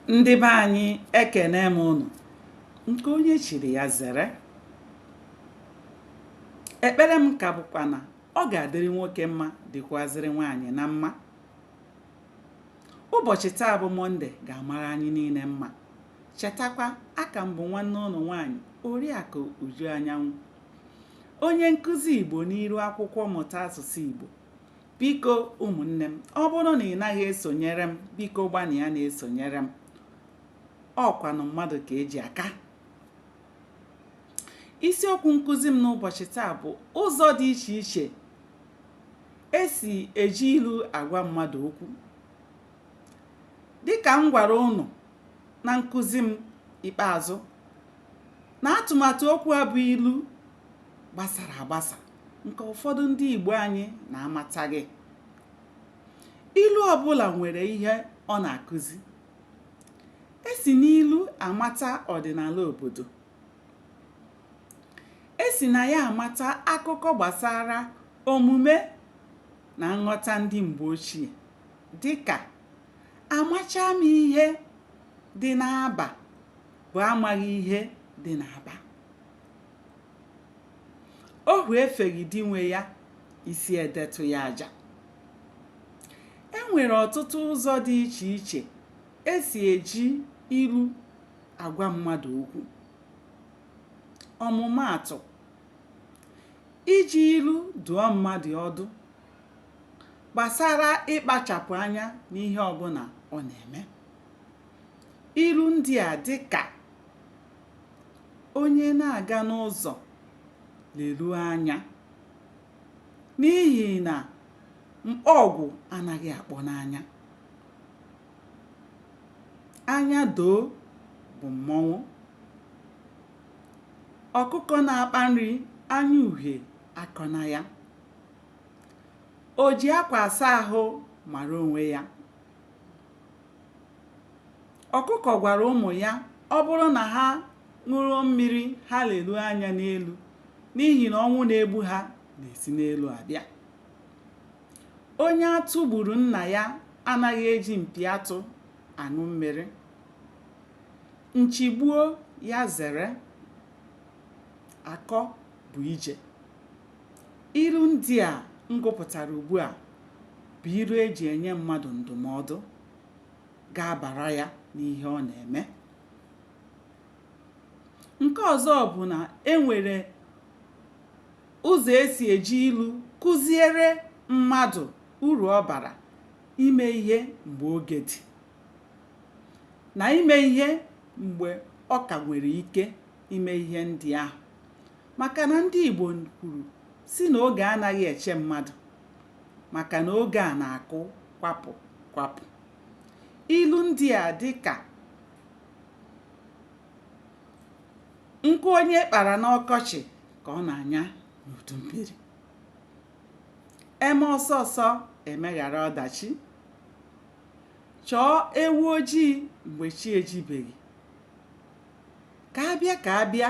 ndị be anyị ekene m ụnụ nke onye chiri ya zere ekpere m ka bụkwa na ọ ga-adịrị nwoke mma dịkwazịrị nwaanyị na mma ụbọchị taa bụ mọnde ga-amara anyị niile mma chetakwa aka m bụ nwanne ụnụ nwaanyị oriakụ uju anyanwụ onye nkụzi igbo n'iru akwụkwọ mmụta asụsụ igbo biko ụmụnne m ọ bụrụ na ị naghị esonyere m biko gbanịa na-esonyere m ọkwanụ mmadụ ka eji aka isiokwu nkụzi m n'ụbọchị taa bụ ụzọ dị iche iche esi eji ilu agwa mmadụ okwu dịka m gwara ụnụ na nkụzi m ikpeazụ na atụmatụ okwu a bụ ilu gbasara agbasa nke ụfọdụ ndị Igbo anyị na-amataghị ilu ọbụla nwere ihe ọ na-akụzi esi n'ilu amata ọdịnala obodo esi na ya amata akụkọ gbasara omume na nghọta ndị mgbe ochie dịka amacha m ihe dị n'aba bụ amaghị ihe dị n'aba ohu efeghị di nwe ya isi edetụ ya aja e nwere ọtụtụ ụzọ dị iche iche esi eji ilu agwa mmadụ okwu ọmụmaatụ iji ilu dụọ mmadụ ọdụ gbasara ịkpachapụ anya n'ihe ọbụla ọ na-eme ilu ndị a dị ka onye na-aga n'ụzọ leruo anya n'ihi na mkpọgwụ anaghị akpọ n'anya anya doo bụ mmọnwụ ọkụkọ na-akpa nri anya uhie akọna ya o ji akwa asa ahụ mara onwe ya Ọkụkọ gwara ụmụ ya ọ bụrụ na ha ṅụrụ mmiri ha leruo anya n'elu n'ihi na ọnwụ na-egbu ha na-esi n'elu abịa. Onye atụ gburu nna ya anaghị eji mpi atụ aṅụ mmiri. Nchigbuo ya zere, akọ bụ ije. Ilu ndị a m gụpụtara ugbu a bụ ilu e ji enye mmadụ ndụmọdụ. ga-abara ya n'ihe ọ na-eme nke ọzọ bụ na e nwere ụzọ esi eji ilu kụziere mmadụ uru ọ bara ime ihe mgbe oge dị na ime ihe mgbe ọ ka nwere ike ime ihe ndị ahụ maka na ndị Igbo kwuru sị na oge anaghị eche mmadụ maka na oge a na-akụ kwapụ kwapụ ilu ndị a dị ka nkụ onye kpara n'ọkọchị ka ọ na-anya n'udu mmiri eme ọsọ ọsọ emeghara ọdachi chọọ ewu ojii mgbe chi ejibeghị ka abịa ka abịa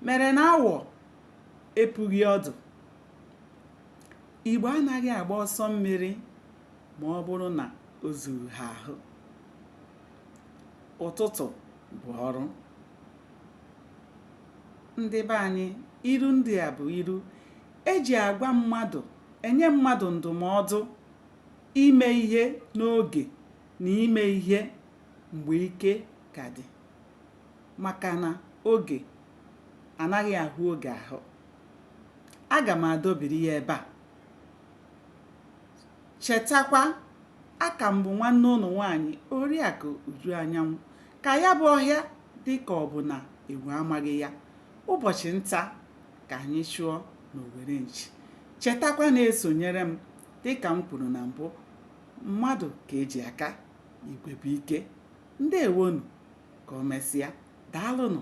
mere na awọ epughị ọdụ Igbo anaghị agba ọsọ mmiri ma ọ bụrụ na o zughị ha ahụ. Ụtụtụ bụ ọrụ. Ndị be anyị, ilu ndị a bụ ilu eji agwa mmadụ, enye mmadụ ndụmọdụ ime ihe n'oge na ime ihe mgbe ike ka dị maka na oge anaghị ahụ oge ahụ. aga m adọbiri ya ebe a chetakwa aka m bụ nwanne ụnụ nwaanyị oriakụ uju anyanwụ ka ya bụ ọhịa dị ka ọ bụ na enwe amaghị ya ụbọchị nta ka anyị chụọ n'owere nchi chetakwa na-esonyere m dịka m kwuru na mbụ mmadụ ka eji aka igwe bụ ike ndewonụ ka o mesịa daalụnụ